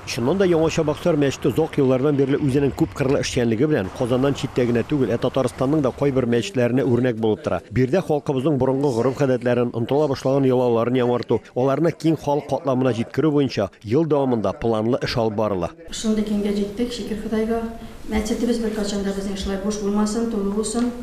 Чыннан да, Яңа Чабаксар мәчете озак еллардан бирле үзенең күпкырлы эшчәнлеге белән Казаннан читтә генә түгел, ә Татарстанның да кайбер мәчетләренә үрнәк булып тора. Биредә халкыбызның борынгы гореф-гадәтләрен, онытыла башлаган йолаларын яңарту, аларны киң халык катламына җиткерү буенча ел дәвамында планлы эш алып барыла. Шундый киңгә җиттек, шөкер Ходайга. Мәчетебез беркайчан да безнең шулай буш булмасын, тулы булсын.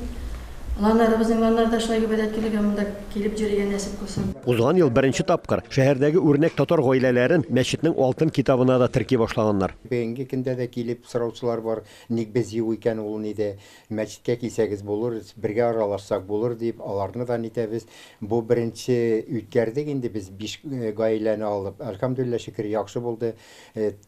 Ланнарыбызның ланнарда шулай гыйбадәт көнлеге монда. Килеп йөрергә нәсеп кылсын. Узган ел беренче тапкыр шәһәрдәге үрнәк татар гаиләләрен мәчетнең алтын китабына да терки башлаганнар. Бүгенге көндә дә килеп сораучылар бар, ник без юк икән ул ниде, мәчеткә килсәгез булыр, бергә аралашсак булыр дип, аларны да нитәбез. Бу беренче үткәрдек инде без биш гаиләне алып, әлхәмдүлилләһ шөкер, яхшы булды.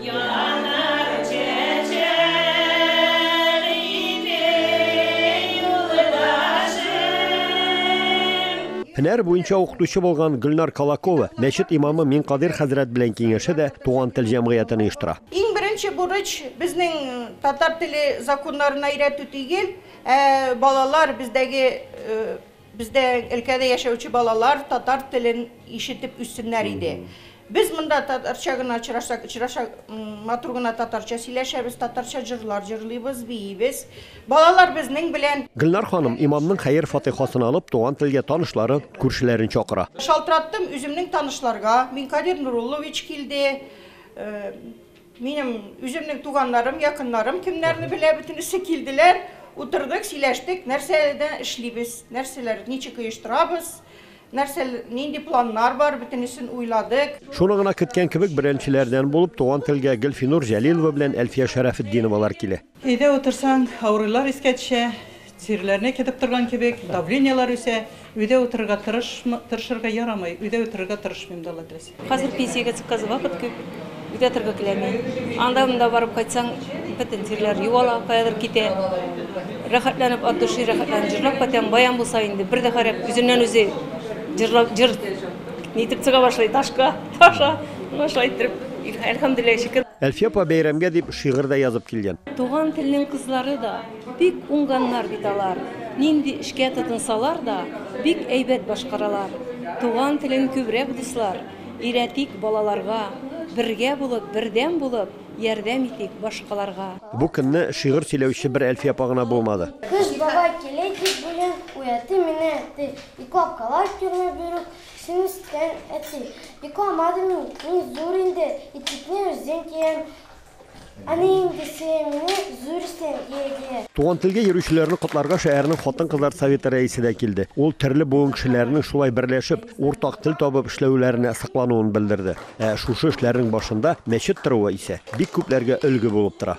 Янар чәчәк иде юлдашым. Һөнәр буенча укытучы булган Гөлнар Колакова мәчет имамы Минкадыйр хәзрәт белән киңәшә дә Туган тел җәмгыятен оештыра. Иң беренче бурыч, безнең татар теле законнарына өйрәтү тигел, ә балалар, бездәге Бездә өлкәдә яшәүче балалар татар телен ишетеп үссеннәр иде. Без монда татарча гына очрашсак, очраша матур гына татарча сөйләшәбез, татарча җырлар җырлыйбыз, биибез. Балалар безнең белән. Гөлнар ханым, имамның хәер-фатыйхасын алып, туган телгә танышлары, күршеләрен чакыра. Шалтыраттым үземнең танышларга, Минкадир Нуруллович килде. Минем үземнең туганнарым, якыннарым кемнәрне белә, бөтенесе килделәр, утырдык, сөйләштек, нәрсәдә эшлибез, нәрсәләр, ничек оештырабыз, нәрсә, нинди планнар бар, бөтенесен уйладык. Шуны гына көткән кебек, беренчеләрдән булып туган телгә Гөлфинур Җәлилова белән Әлфия Шәрәфетдиновалар килә. Өйдә утырсаң, авырулар искә төшә, тиреләрне кетеп торган кебек, давлениелар үсә. Өйдә утырырга тырышмы, тырышырга ярамый. Өйдә утырырга тырышмыйм да, Алла теләсә. Хәзер пенсиягә чыккач, вакыт күп, өйдә торырга теләми. Анда-монда барып кайтсаң, бөтен тиреләр югала, каядыр китә. Рәхәтләнеп, от души рәхәтләнеп җырлап кайтам. Баян булса инде, бер дә харап, үзеннән-үзе җырлап, җыр. Нитеп чыга башлый, ташка, таша, ну шулай иттереп, әлхәмдүлилләһ шөкер. Әлфия апа бәйрәмгә дип шигырь дә язып килгән. Туган телнең кызлары да бик уңганнар бит алар. Нинди эшкә тотынсалар да, бик әйбәт башкаралар. Туган телен күбрәк дуслар, өйрәтик балаларга. Бергә булып, бердәм булып, ярдәм итик башкаларга. Бу көнне шигырь сөйләүче бер Әлфия апа гына булмады. Кыш бабай килә дип бүген, уятты мине әти. Ике апкалар тюрьмә бирүк эшен эскән әти. Ике амады мин, мин зур инде, итекне үзем киям. Әни инде сиңа мине зур исән ия дия. Туган телгә йөрүчеләрне котларга шәһәрнең хатын-кызлар советы рәисе дә килде. Ул төрле буын кешеләренең шулай берләшеп, уртак тел табып эшләүләренә соклануын белдерде. Ә шушы эшләрнең башында мәчет торуы исә бик күпләргә өлге булып тора.